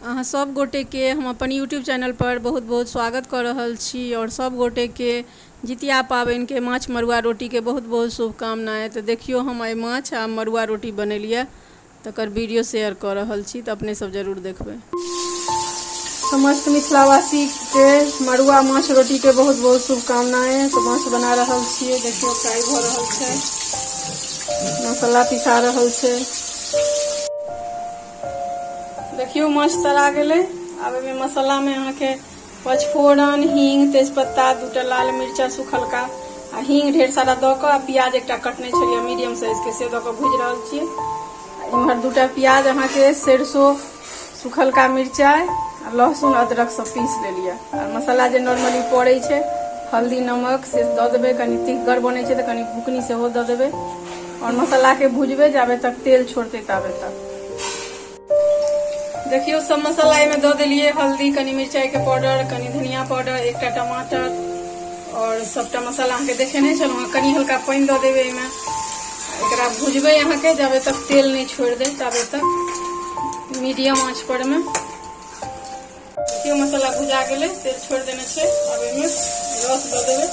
अहाँ सब गोटे के हम अपन यूट्यूब चैनल पर बहुत बहुत स्वागत कऽ रहल छी आओर सब गोटे के जितिया पाबनि के माछ मरुआ रोटी के बहुत बहुत शुभकामना तऽ देखियौ हम आइ माछ आ मरुआ रोटी बनेलिया तकर वीडियो शेयर कऽ रहल छी तऽ अपने सब जरूर देखबै समस्त मिथिलावासी के मड़ुआ माछ रोटी के बहुत बहुत शुभकामनाएं तो माछ बना रहल छियै देखियो फ्राई भ रहल छै मसाला पिसा रहल छै देखियो माछ तरा गेलै आब एहिमे मसालामे अहाँके पचफोरन हींग तेजपत्ता दूटा लाल मिर्चा सुखलका आ हींग ढेर सारा दऽ कऽ आ प्याज एकटा कटने छलियै मीडियम साइजके से दऽ कऽ भूजि रहल छियै इम्हर दूटा प्याज अहाँके सरसो सुखलका मिरचाइ आ लहसुन अदरक सब पीस लेलियै आ मसाला जे नॉर्मली पड़ै छै हल्दी नमक से दऽ देबै कनि तिखगर बनै छै तऽ कनि बुकनी सेहो दऽ देबै आओर मसालाके भुजबै जाबे तक तेल छोड़तै ताबे तक देखियौ सब मसाला एहिमे दऽ देलियै हल्दी कनि मिरचाइके पाउडर कनि धनिया पाउडर एकटा टमाटर आओर सभटा मसाला अहाँके देखेने छलहुँ हेँ कनि हल्का पानि दऽ देबै एहिमे एकरा भुजबै अहाँके जाबे तक तेल नहि छोड़ि दे ताबे तक मीडियम आँच परमे देखियौ मसाला भुजा गेलै तेल छोड़ि देने छै आब एहिमे रस दऽ देबै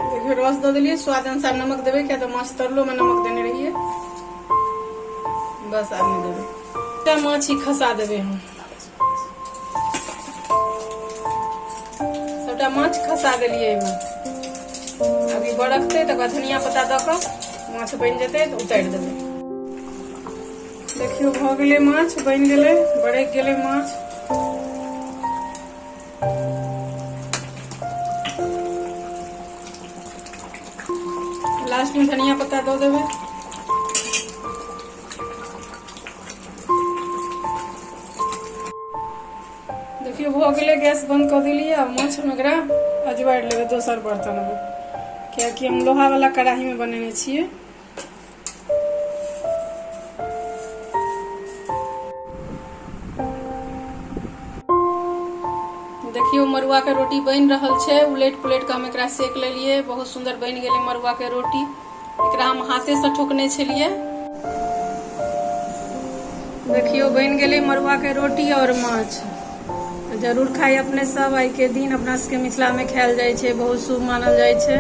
देखियौ रस दऽ देलियै स्वाद अनुसार नमक देबै किया तऽ माछ तरलोमे नमक देने रहियै बस आब नहि देबै माछ ही खसा देबै हम सबटा माछ खसा देलिए एहिमे अभी बरकतै तकर बाद धनिया पत्ता दऽ कऽ माछ बनि जेतै तऽ उतारि देबै देखियौ भऽ गेलै माछ बनि गेलै बरकि गेलै माछ लास्टमे धनिया पत्ता दऽ देबै देखियौ भऽ गेलै गैस बन्द कऽ देलियै आ माछमे एकरा अजबारि लेबै दोसर बर्तनमे कियाकि हम लोहावला कढ़ाहीमे बनेने छियै देखियौ मड़ुआके रोटी बनि रहल छै उलटि पुलटि कऽ हम एकरा सेक लेलियै बहुत सुन्दर बनि गेलै मड़ुआके रोटी एकरा हम हाथेसँ ठोकने छलियै देखियौ बनि गेलै मड़ुआके रोटी आओर माछ जरूर खाइ अपने सब आइके दिन अपना सबके मिथिलामे खायल जाइ छै बहुत शुभ मानल जाइ छै